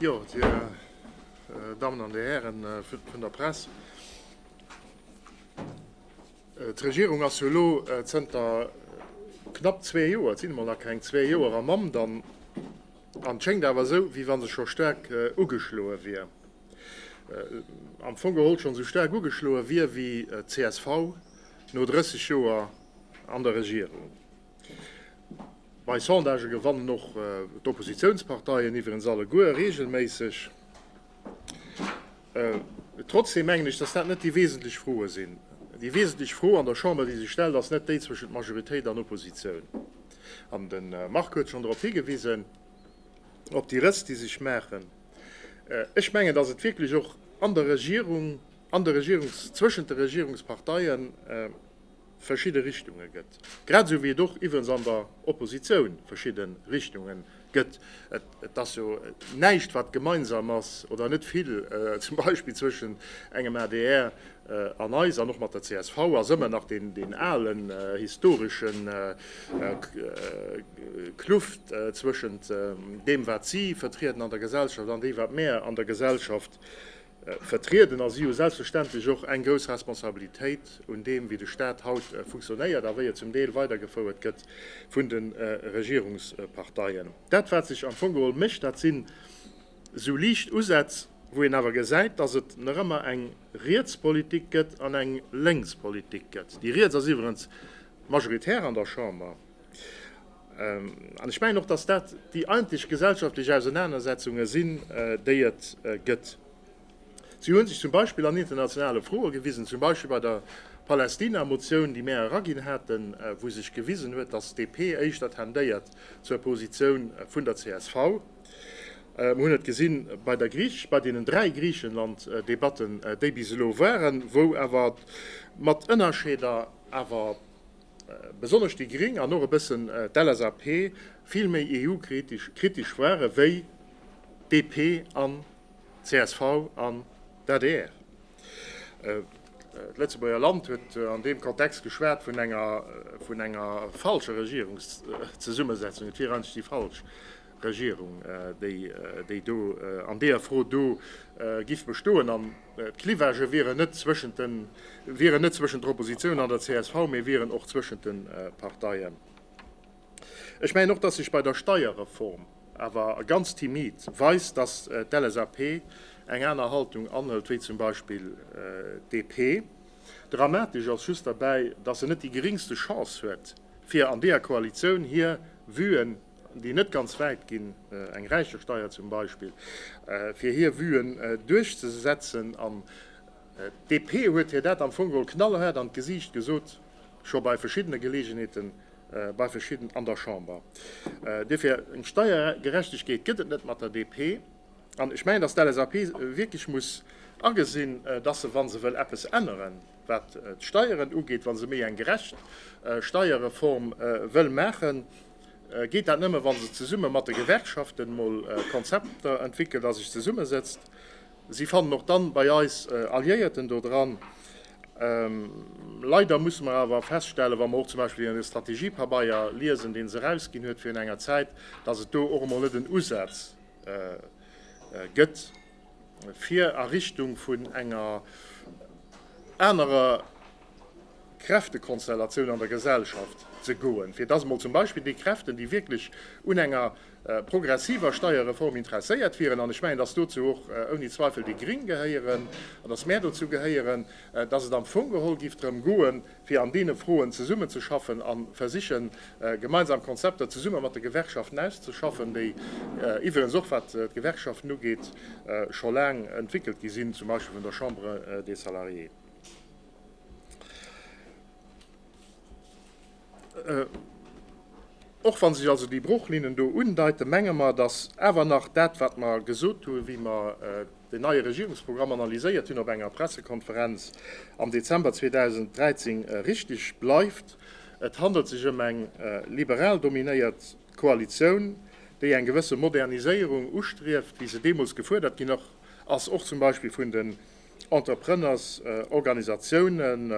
Jo, Dir Dammen an Dir Hären vun der Press, d'Regierung ass jo elo zënter knapp zwee Joer, et sinn emol nach keng zwee Joer, am Amt an et schéngt awer esou, wéi wa se scho staark ugeschloe wier, am Fong geholl schonn esou staark ugeschloe wier wéi d'CSV no 30 Joer an der Regierung. Bei Sondagë gewannen och d'Oppositiounsparteien iwwerens alleguer reegelméisseg. Trotzdeem mengen ech, datt dat net déi wesentlech Froe sinn. Déi wesentlech Fro an der Chamber, déi sech stellt, ass net déi zwëschent Majoritéit an Oppositioun. An de Marc huet schonn drop higewisen, op déi Rëss, déi sech maachen. Ech mengen, datt et wierklech och an der Regierung, an der Regierungs-, zwëschent de Regierungsparteien, verschidde Richtunge gëtt, grad esou wéi et och iwwerens an der Oppositioun verschidde Richtunge gëtt. Et ass jo näischt, wat gemeinsam ass, oder net vill, zum Beispill zwëschen engem adr an eis an och mat der csv ass ëmmer nach deen alen historesche Kluft zwëschent deem, wat si vertrieden an der Gesellschaft an deem, wat mär an der Gesellschaft vertrieden. A si hu selbstverständlech och eng grouss Responsabilitéit un deem, wéi de Stat haut funktionéiert a wéi e zum Deel weidergefouert gëtt vun de Regierungsparteien. Dat, wat sech am Fong geholl mécht, dat sinn esou liicht Usätz, wou een awer gesäit, dass et nach ëmmer eng riets Politik gëtt an eng lénks Politik gëtt. Déi riets ass iwwerens majoritär an der Chamber. An ech mengen och, dass dat déi eigentlech gesellschaftlech Ausenanersetzunge sinn, déi et gëtt. Si hu sech zum Beispill an internationale Froe gewisen, zum Beispill bei der Palästina-Motioun, déi mär eraginn haten, wou sech gewisen huet, dass d'DP éischter tendéiert zur Positioun vun der csv. Mir hunn et gesi bei der Griech-, bei deenen dräi Griichenland-Debatten, déi bis elo waren, wou awer mat Ënnerscheeder awer besonnesch déi Gring an och e bëssen d'LSAP vill méi EU-kritesch ware wéi DP an csv an d'ADR. D'Lëtzebuerger Land huet an deem Kontext geschwat vun enger falscher Regierungszesummesetzung, et wier eenzeg déi falsch. Regierung, déi do an deeër Fro do giff bestoen. An d'Clivagen wieren net zwëschent den, wieren net zwëschent der Oppositioun an der csv, mee wieren och zwëschent den Parteien. Ech mengen och, dass sech bei der Steierreform awer ganz timid weist, dass d'LSAP eng aner Haltung anhëlt wéi zum Beispill d'DP. Dramatesch ass just derbäi, dass se net déi geringste Chance huet, fir an deeër Koalitioun hir Vuen, déi net ganz wäit ginn, eng Räichesteier zum Beispill, fir hir Vuen duerchzesetzen. An d'DP huet hir dat am Fong geholl knallhaart an d'Gesiicht gesot, scho bei verschiddene Geleegenheeten bei verschidden an der Chamber. Duerfir, eng Steiergerechtegkeet gëtt et net mat der DP. An ech mengen, datt d'LSAP wierklech muss agesinn, datt se, wa se wëll eppes änneren, wat d'Steieren ugeet, wa se méi eng gerecht Steierreform wëll maachen, Geet dat nëmme wann se zesumme mat de Gewerkschaften mol Konzepter entwickelt a sech zesummesetzt. Si fannen och dann bei eis Alliéierten do dran. Leider musse mer awer feststellen, wa mer och zum Beispill den Strategiepabeier liesen deen se erausginn huet virun enger Zäit, dass et do och emol net en Usaz gëtt fir a Richtung vun enger anerer, Kräftekonstellatioun an der Gesellschaft ze goen, fir dass emol zum Beispill déi Kräften, déi wierklech un enger progressiver Steierreform interesséiert wieren, an ech mengen, dass dozou och ouni Zweifel déi Gring gehéieren an dass mär dozou gehéieren, dass et am Fong geholl géif drëm goen, fir an deene Froen zesummenzeschaffen a versichen, gemeinsam Konzepter zesumme mat de Gewerkschaften auszeschaffen, déi iwwerens och, wat d'Gewerkschaften ugeet, scho laang entwéckelt gi sinn, zum Beispill vun der Chambre des Salariés. Och wann sech also déi Bruchlinnen do undeiten, menge mer, dass awer nach dat, wat mer gesot hunn, wéi mer den neie Regierungsprogramm analyséiert hunn op enger Pressekonferenz am Dezember 2013, richtig bleift. Et handelt sech ëm eng liberal dominéiert Koalitioun, déi eng gewësse Moderniséierung ustrieft, wéi se deemools gefuerdert ginn ass, och zum Beispill vun de Entreprennersorganisatiounen,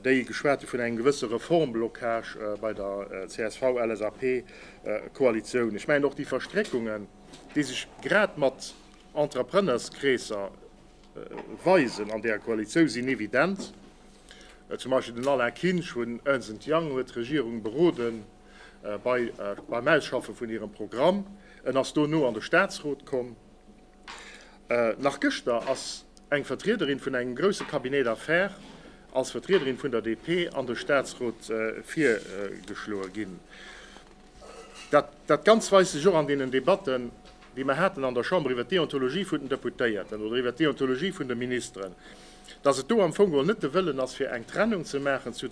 déi geschwat hu vun engem gewësse Reformblocage bei der CSV-LSAP-Koalitioun. Ech mengen, och déi Verstréckungen, déi sech grad mat Entreprennerskreesser weisen an där Koalitioun, sinn evident. Zum Beispill den Alain Kinsch vun Ernst and Young huet d'Regierung berode beim Ausschaffe vun hirem Programm. En ass dono an de Statsrot komm. Nach gëschter ass eng Vertriederin vun engem grousse Cabinet d'affaires als Vertriederin vun der DP an de Staatsrot virgeschloe ginn. Dat Ganzt weist sech och an deenen Debatten, déi mer haten an der Chamber iwwer d'Deontologie vun den Deputéierten oder iwwer d'Deontologie vun de Ministeren, dass et do am Fong geholl net de Wëllen ass, fir eng Trennung ze maachen zur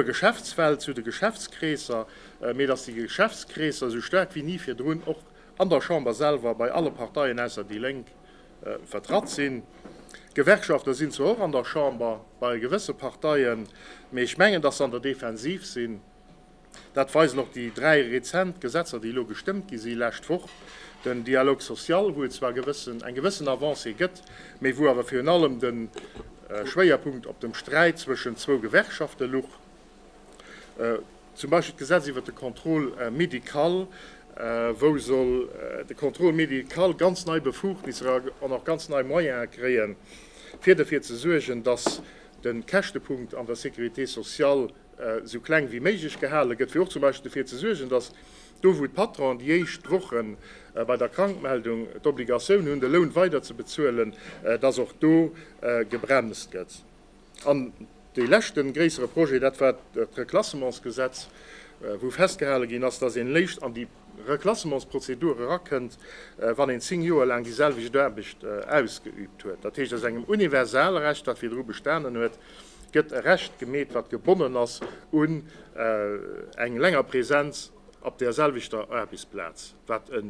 Geschäftswelt, zu de Geschäftskreesser, mee dass déi Geschäftskreesser esou staark wéi ni virdrun och an der Chamber selwer bei alle Parteien ausser déi Lénk vertratt sinn. Gewerkschafter sinn zwar och an der Chamber bei gewësse Parteien, mee ech mengen, datt se an der Defensiv sinn. Dat weisen och déi dräi rezent Gesetzer, déi elo gestëmmt gi si lescht Woch. Den Dialogue social, wou et zwar gewëssen, eng gewëssen Avancée gëtt, mee wou awer virun allem de Schwéierpunkt op dem Sträit zwëschen zwou Gewerkschafte luch. Zum Beispill d'Gesetz iwwert de Contrôle médical, wou soll de Contrôle médical ganz nei Befugnisser an och ganz nei Moyene kréie fir derfir ze suergen, datt de Käschtepunkt an der Sécurité sociale esou kleng wéi méiglech gehale gëtt, fir och zum Beispill derfir ze suergen, datt do wou d'Patronen déi éischt Woche bei der Krankmeldung d'Obligatioun hunn, de Loun weiderzebezuelen, datt och do gebremst gëtt. An dee leschte gréissere Projet, dat war d'Reklassementsgesetz, wou festgehale ginn ass, datt een léicht an déi Reklassementsprozedur erakënnt, wann een zéng Joer laang déi selwecht Aarbecht ausgeüübt huet. Dat heescht, aus engem Universalrecht, wat virdru bestanen huet, gëtt e Recht gemeet, wat gebonnen ass un eng länger Presenz op där selwechter Aarbechtsplaz, wat e.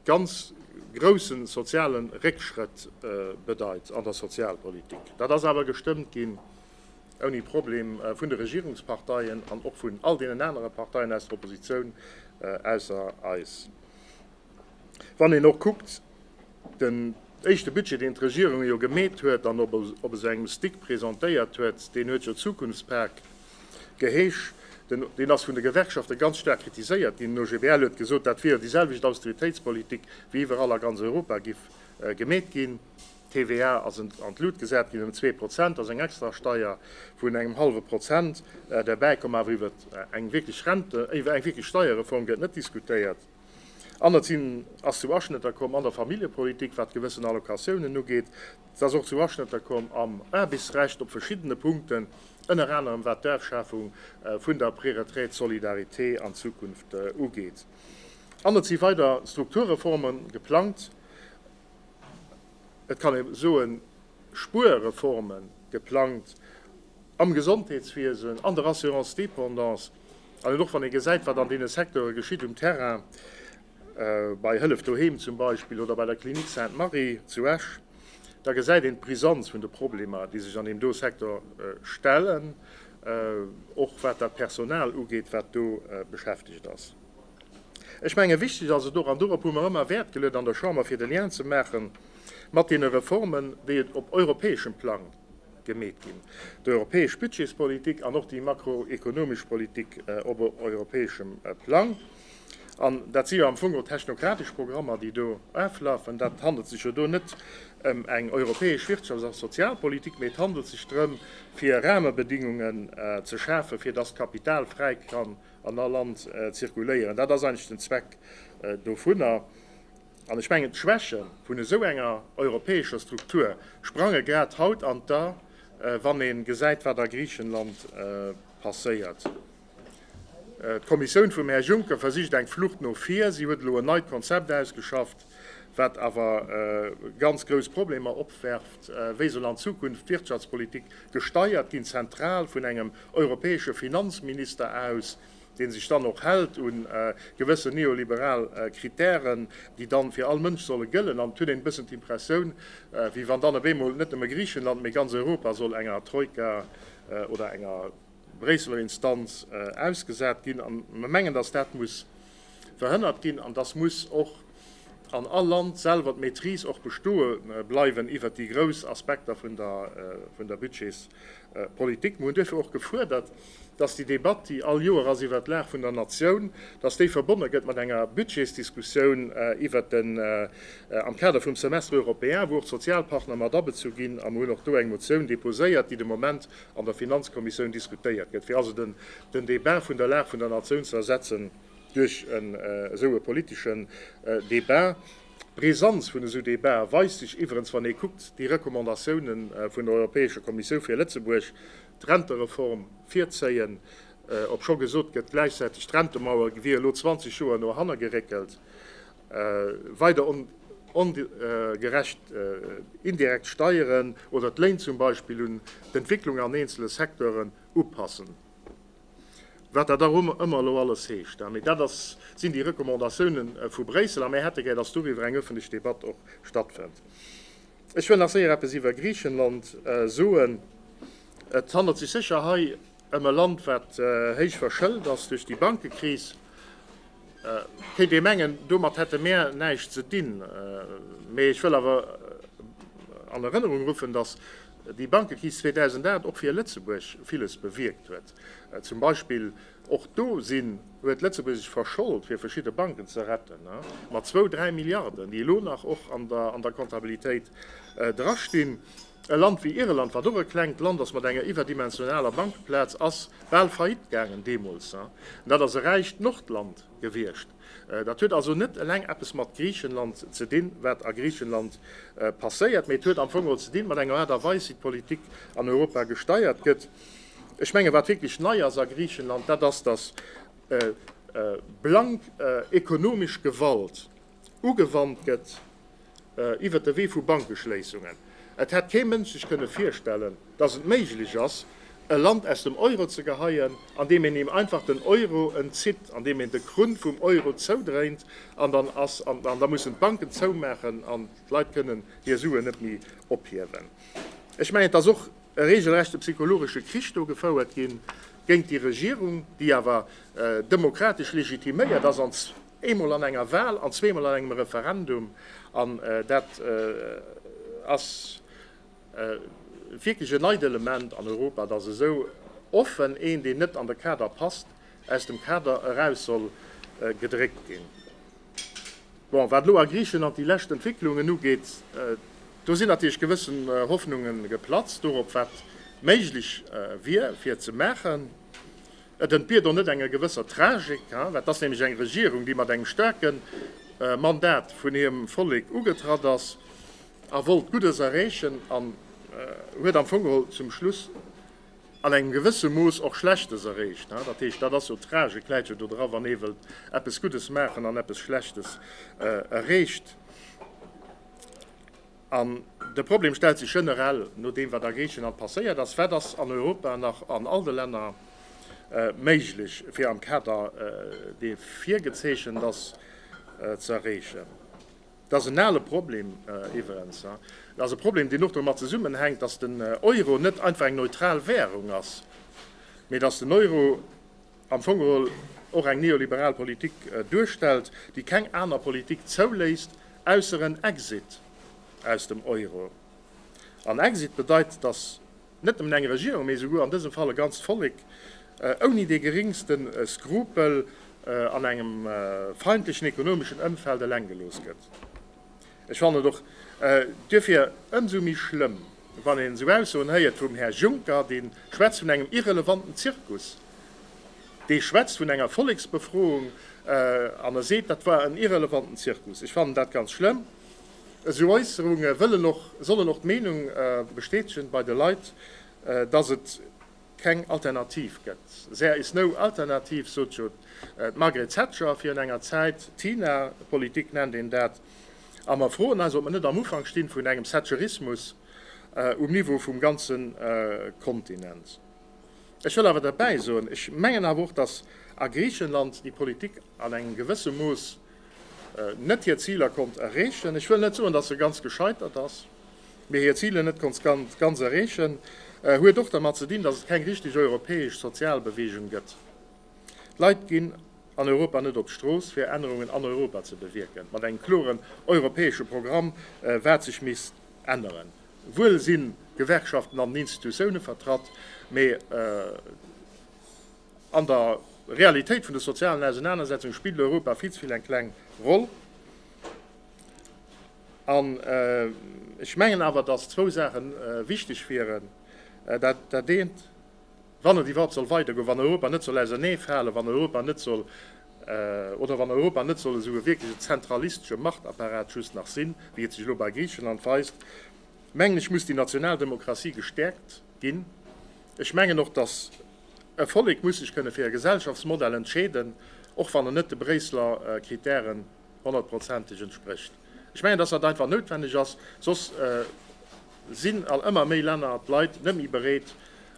ganz grousse soziale Réckschrëtt bedeit an der Sozialpolitik. Dat ass awer gestëmmt ginn, ouni Problem, vun de Regierungsparteien an och vun all deenen anere Parteien aus der Oppositioun, ausser eis. Wann een och kuckt, den éischte Budget, deen d'Regierung jo gemeet huet an op esou engem Stick presentéiert huet, deen huet jo Zukunftspak Geheesch, deen ass vun de Gewerkschafte ganz staark kritiséiert ginn. Den OGBL huet gesot, dat wier déi selwecht Austeritéitspolitik wéi iwwerall a ganz Europa giff gemeet ginn. D'TVA ass an d'Lut gesat ginn ëm zwee Prozent, ass eng extra Steier vun engem hallwe Prozent derbäikomm. Awer iwwer eng wierklech Rente, iwwer eng wierklech Steierreform gëtt net diskutéiert. An et sinn, ass zu Aschnëtter komm an der Familljepolitik, wat gewëssen Allocatiounen ugeet. Et ass och zu Aschnëtter komm am Aarbechtsrecht op verschiddene Punkten, ënner anerem wat d'Afschafung vun der Préretraite Solidarité an Zukunft ugeet. An et si weider Strukturreforme geplangt, et kann ee soen Spuerreforme geplangt am Gesondheetswiesen, an der Assurance dépendance, An och wann ee gesäit, wat an deene Secteure geschitt um Terrain, bei Hëllef Doheem zum Beispill oder bei der Klinik Sainte Marie zu Esch, da gesäit een d'Brisanz vun de Problemer, déi sech an deem do Secteur stellen, och wat dat Personal ugeet, wat do beschäftegt ass. Ech menge wichteg ass et och, an dorop hu mer ëmmer Wäert geluet an der Chamber, fir de Lien ze maache mat deene Reformen, déi et op europäeschem Plang gemeet ginn. D'europäesch Budgetspolitik an och déi makroekonomesch Politik op europäeschem Plang, an dat si jo am Fong och technokratesch Programmer, déi do aflafen, dat handelt sech jo do net ëm eng europäesch Wirtschafts a Sozialpolitik, mee et handelt sech drëm, fir Rahmebedingungen ze schafen, fir datt d'Kapital fräi kann an all Land zirkuléieren. Dat ass eigentlech den Zweck dovunner. An ech mengen, d'Schwäche vun esou enger europäescher Struktur sprange grad haut an d'A, wann ee gesäit, wat a Griichenland passéiert. D'Kommissioun vum Här Juncker versicht eng Flucht no vir. Si huet elo en neit Konzept ausgeschafft, wat awer ganz grouss Problemer opwerft. Wéi soll an Zukunft d'Wirtschaftspolitik gesteiert ginn? Zentral vun engem europäesche Finanzminister aus? dee sech dann och hält u gewëssen neoliberal Kritären, déi dann fir all Mënsch solle gëllen. An et huet een e bëssen d'Impressioun, wéi wann dann op eemol net nëmme Griichenland, mee ganz Europa soll enger Troika oder enger Bréisseler Instanz ausgesat ginn. A mer mengen, dass dat muss verhënnert ginn an dass muss och an all Land selwer d'Maîtrise och bestoe bleiwen iwwert déi grouss Aspekter vun der Budgets. Politik. Mir hunn duerfir och gefuerdert, dass déi Debatt, déi all Joer ass iwwert d'Lag vun der Natioun, dass déi verbonne gëtt mat enger Budgetsdiskussioun iwwert den, am Kader vum Semestre européen, wou och d'Sozialpartner mat abezu ginn. A mir hunn och do eng Motioun déposéiert, déi de Moment an der Finanzkommissioun diskutéiert gëtt, fir also den Débat vun der Lag vun der Natioun ze ersetzen duerch esou e politeschen Débat. D'Brisanz vun esou Debatë weist sech iwwerens, wann ee kuckt, déi Recommandatioune vun der Europäescher Kommissioun fir Lëtzebuerg, d'Rentereform virzéien, obscho gesot gëtt, gläichzäiteg d'Rentemauer wier elo 20 Joer no hanner geréckelt, weider ongerecht indirekt Steieren oder d'Léin zum Beispill un d'Entwécklung an eenzele Secteuren upassen. Wat dat och ëmmer elo alles heescht. Mee dat ass, sinn déi Recommandatioune vu Bréissel. A mär hätte gär, datt doriwwer eng öffentlech Debatt och stattfënnt. Ech wëll nach séier eppes iwwer Griichenland soen. Et handelt sech sécher hei ëm e Land, wat héich verschëlt ass duerch déi Bankekris. Kéint ee mengen, domat hätte mär näischt ze dinn, mee ech wëll awer an Erënnerung ruffen, datt déi Bankekris 2008 och fir Lëtzebuerg villes bewierkt huet. Zum Beispill och do sinn, huet Lëtzebuerg sech verschold, fir verschidde Banken ze retten, mat zwou, dräi Milliarden, déi elo nach och an der Kontabilitéit drastinn. E Land wéi Irland, wat och e klengt Land ass mat enger iwwerdimensionaler Bankeplaz, ass bal faillite gaangen deemools. An dat ass e räicht Nordland gewiescht. Dat huet also net eleng eppes mat Griichenland ze dinn, wat a Griichenland passéiert, mee et huet am Fong och ze dinn mat enger Aart a Weis, wéi d'Politik an Europa gesteiert gëtt. Ech mengen, wat wierklech nei ass a Griichenland, dat ass, datt blank ekonomesch Gewalt ugewannt gëtt iwwert de Wee vu Bankeschléissungen. Et hätt kee Mënsch sech kënne virstellen, datt et méiglech ass, e Land aus dem Euro ze geheien, andeem een him einfach den Euro entzitt, andeem een de Krunn vum Euro zoudréint, an dann ass an da mussen d'Banken zoumaachen an d'Leit kënnen hir Suen net méi ophiewen. Ech mengen, et ass och e reegelrechte psychologesche Krich do gefouert gi géint déi Regierung, déi awer demokratesch legitiméiert ass an Eemol an enger Wahl an zweemol an engem Referendum. An dat ass wierklech en neit Element an Europa, dass esou offen een, deen net an de Kader passt, aus dem Kader eraus soll gedréckt ginn. Bon, wat elo a Griichenland déi lescht Entwécklungen ugeet, do sinn natierlech gewëssen Hoffnunge geplatzt dorop, wat méiglech wier, fir ze maachen. Et entbiert och net enger gewësser Tragik, well et ass nämlech eng Regierung, déi mat engem staarke Mandat vun hirem Vollek ugetratt ass a wollt Guddes erreechen an huet am Fong geholl zum Schluss an engem gewësse Mooss och Schlechtes erreecht. Dat heescht, dat ass jo d'Tragik läit jo dodra wann ee wëllt eppes Guddes maachen an eppes Schlechtes erreecht. An de Problem stellt sech generell no deem, wat a Griichenland passéiert ass, Wat ass an Europa nach an all de Länner méiglech, fir am Kader, dee virgezeechent ass, ze erreechen? Dat ass en ale Problem iwwerens. Dat ass e Problem, deen och domat zesummenhänkt, dass den Euro net einfach eng neutral Währung ass, mee dass den Euro, am Fong geholl och eng neoliberal Politik duerstellt, déi keng aner Politik zouléisst, ausser en Exit aus dem Euro. An Exit bedeit, datt net nëmmen eng Regierung, mee esouguer an dësem Fall e ganzt Vollek ouni dee geringste Skrupel an engem feindlechen ekonomeschen Ëmfeld eleng gelooss gëtt. Ech fannen et och duerfir ëmsou méi schlëmm, wann een esou Aussoen héiert vum Här Juncker, dee schwätzt vun engem irrelevanten Zirkus, dee schwätzt vun enger Volleksbefroung an e seet, dat war en irrelevanten Zirkus. Ech fannen dat ganz schlëmm. Esou Äusserunge sollen och d'Meenung bestätegen bei de Leit, dass et keng Alternativ gëtt. There is no alternative, sot jo d'Margaret Thatcher virun enger Zäit, d'China-Politik nennt een dat. A mer froen eis, ob mer net am Ufank stinn vun engem Thatcherismus um Niveau vum ganze Kontinent. Ech wëll awer derbäi soen, ech mengen awer och, datt a Griichenland déi Politik an engem gewësse Mooss net hir Ziler konnt erreechen. Ech wëll net soen, datt se ganz gescheitert ass, mee hir Ziler net konnt ganz erreechen, huet och dermat ze dinn, datt et keng richteg europäesch Sozialbeweegung gëtt. D'Leit ginn an Europa net op d'Strooss, fir Ännerungen an Europa ze bewierken, mat engem kloren europäesche Programm, wat sech misst änneren. Wuel sinn d'Gewerkschaften an den Institutioune vertratt, mee. An der Realitéit vun de sozialen Ausenanersetzunge spillt Europa vill ze vill eng kleng Roll. An ech mengen awer, dass zwou Saache wichteg wieren. Dat eent, wann et iwwerhaupt soll weidergoen, wann Europa net soll auserneefalen, wann Europa net soll, oder wann Europa net soll esou e wierkleche zentralistesche Machtapparat just nach sinn, wéi et sech elo bei Griichenland weist, mengen ech, muss déi national Demokratie gestäerkt. ginn. Ech mengen och, datt e Vollek muss sech kënne fir e Gesellschaftsmodell entscheeden, och wann en net de Bréisseler Kritären honnertprozenteg entsprécht. Ech mengen, datt dat einfach noutwenneg ass, soss sinn an ëmmer méi Länner, d'Leit, net méi bereet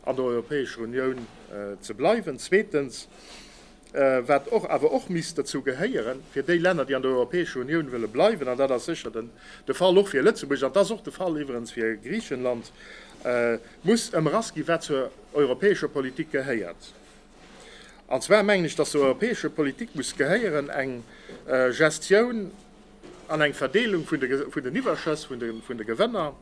an der Europäescher Unioun ze bleiwen. Zweetens, wat och awer och misst dozou gehéieren, fir déi Länner, déi an der Europäescher Unioun wëlle bleiwen, an dat ass sécher de Fall och fir Lëtzebuerg, an et ass och de Fall iwwerens fir Griichenland, muss ëmrass ginn, wat zur europäescher Politik gehéiert. An zwar mengen ech, datt zur europäescher Politik muss gehéieren eng Gestioun an eng Verdeelung vun den Iwwerschëss, vun de Gewënner,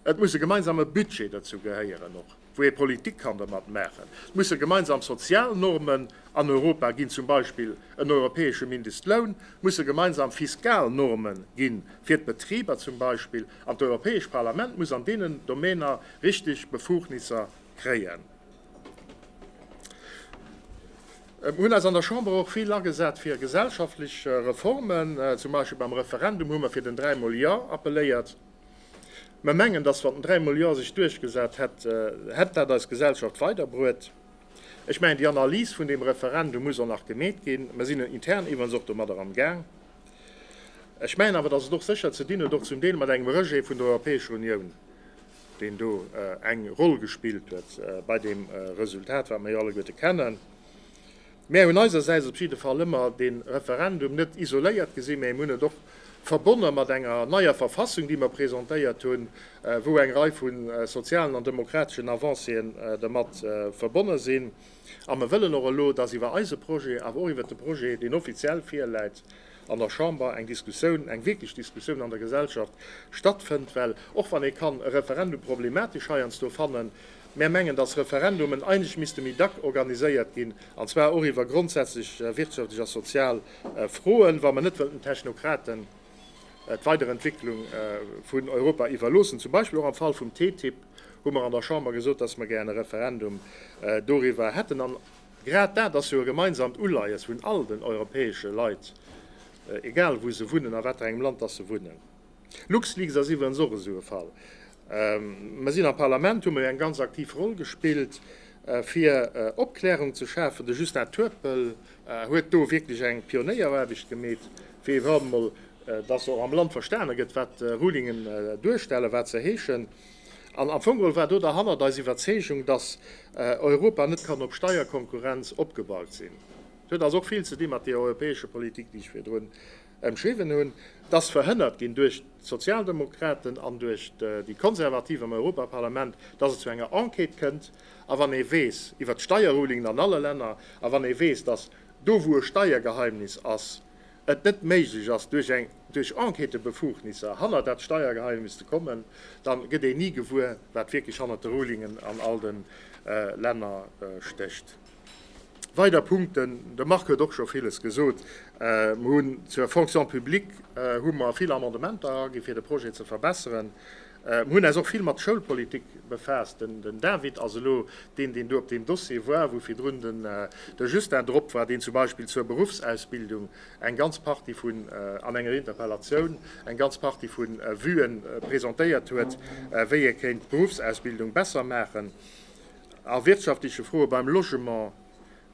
Et muss e gemeinsame Budget dozou gehéieren och, wou ee Politik kann dermat maachen. Et musse gemeinsam Sozialnormen an Europa ginn, zum Beispill en europäesche Mindestloun, et musse gemeinsam Fiskalnorme ginn, fir d'Betriber zum Beispill, an d'Europäescht Parlament muss an deenen Domäner richteg Befugnisser kréien. Mir hunn eis an der Chamber och vill agesat fir gesellschaftlech Reformen, zum Beispill beim Referendum hu mer fir den dräimol Ja appelléiert. Mer mengen, dass wann den dräimol Jo sech duerchgesat hätt, hätt dat eis Gesellschaft weiderbruet. Ech mengen, déi Analys vun deem Referendum muss och nach gemeet ginn. Mer sinn intern iwwerens och domadder am Gaang. Ech mengen awer, dass et och sécher ze dinn huet, och zum Deel mat engem Rejet vun der Europäescher Unioun, deen do eng Roll gespillt huet bei deem Resultat, wat mer jo alleguerte kennen. Mär hunn eisersäits op jidde Fall ëmmer dee Referendum net isoléiert gesi mä mir hunn et och verbonne mat enger neier Verfassung, déi mer presentéiert hunn, wou eng Rei vu sozialen an demokrateschen Avancéen dermat verbonne sinn. A mer wëllen och elo, dass iwwer eise Projet, awer och iwwer de Projet, deen offiziell virläit, an der Chamber eng Diskussioun, eng wierklech Diskussioun an der Gesellschaft stattfënnt, well och wann ee kann e Referendum problematesch heiansdo fannen, mär mengen, dass Referendumen eigentlech misste méi dack organiséiert ginn, an zwar och iwwer grondsätzlech wirtschaftlech a sozial Froen, wa mer net wëllen den Technokraten d'Weiderentwicklung vun Europa iwwerloossen. Zum Beispill och am Fall vum TTIP hu mer an der Chamber gesot, dass mer gären e Referendum doriwwer hätten. Grad dat ass jo e gemeinsamt Uleies vun all den europäesche Leit, egal wou se wunnen, a waterengem Land dass se wunnen. LuxLeaks ass iwwerens och esou e Fall. Mer sinn am Parlament, hu mer jo eng ganz aktiv Roll gespillt, fir Opklärung ze schafen. De Justin Turpel huet do wierklech eng Pionéieraarbecht gemeet, fir iwwerhaupt emol, dass och am Land verstane gëtt, wat Rulingen duerstellen, wat se heeschen. An am Fong war do derhannert eis Iwwerzeegung, dass Europa net kann op Steierkonkurrenz opgebaut sinn. Dat huet also och vill ze di mat deeër europäescher Politik, déi ech virdrun ëmschriwwen hunn. Dat ass verhënnert ginn duerch d'Sozialdemokraten an duerch déi Konservativ am Europaparlament, dass et zu enger Enquête kënnt. A wann ee weess iwwert d'Steierrulingen an alle Länner a wann ee weess, dass do wou e Steiergeheimnis ass, et net méiglech ass duerch eng duerch Enquêtebefugnisser hanner dat Steiergeheimnis ze kommen, dann gëtt een ni gewuer wat wierklech hannert de Rulingen an all den Länner stécht. Weider Punkten, de Marc huet och scho villes gesot, mer hunn zur Fonction publique hu mer vill Amendementer eraginn fir de Projet ze verbesseren, Mir hunn äis och vill mat Schoulpolitik befaasst. Den David ass elo deen, deen do op deem Dossier war, wou virdrun de Justin drop war, deen zum Beispill zur Beruffsausbildung eng ganz Partie vun, an enger Interpellatioun, eng ganz Partie vu Vue presentéiert huet, wéi ee kéint d'Beruffsausbildung besser maachen. A wirtschaftleche Froe beim Logement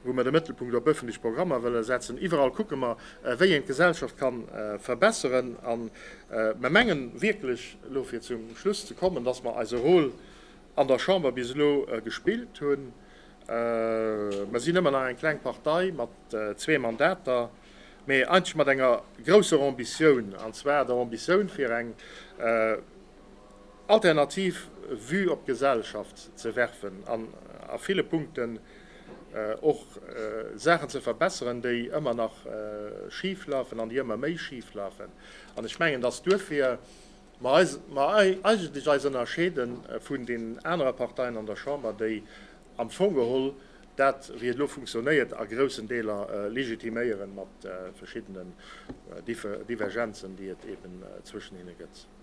wou mer de Mëttelpunkt op öffentlech Programmer wëlle setzen. Iwwerall kucke mer, wéi een d'Gesellschaft ka verbesseren. A mer mengen wierklech, elo fir zum Schluss ze kommen, dass mer eise Rôle an der Chamber bis elo gespillt hunn. Mer sinn ëmmer nach eng kleng Partei mat zwee Mandater, mee eigentlech mat enger grousser Ambitioun, an zwar der Ambitioun, fir eng, alternativ Vue op d'Gesellschaft ze werfen an a ville Punkten och Saachen ze verbesseren, déi ëmmer nach schif lafen an déi ëmmer méi schif lafen. An ech mengen, dass duerfir mer eigentlech eis ënnerscheede vun deenen anere Parteien an der Chamber, déi am Fong geholl dat, wéi et elo funktionéiert, a groussen Deeler legitiméieren, mat verschiddenen Divergenzen, déi et eeben zwëschen hinne gëtt.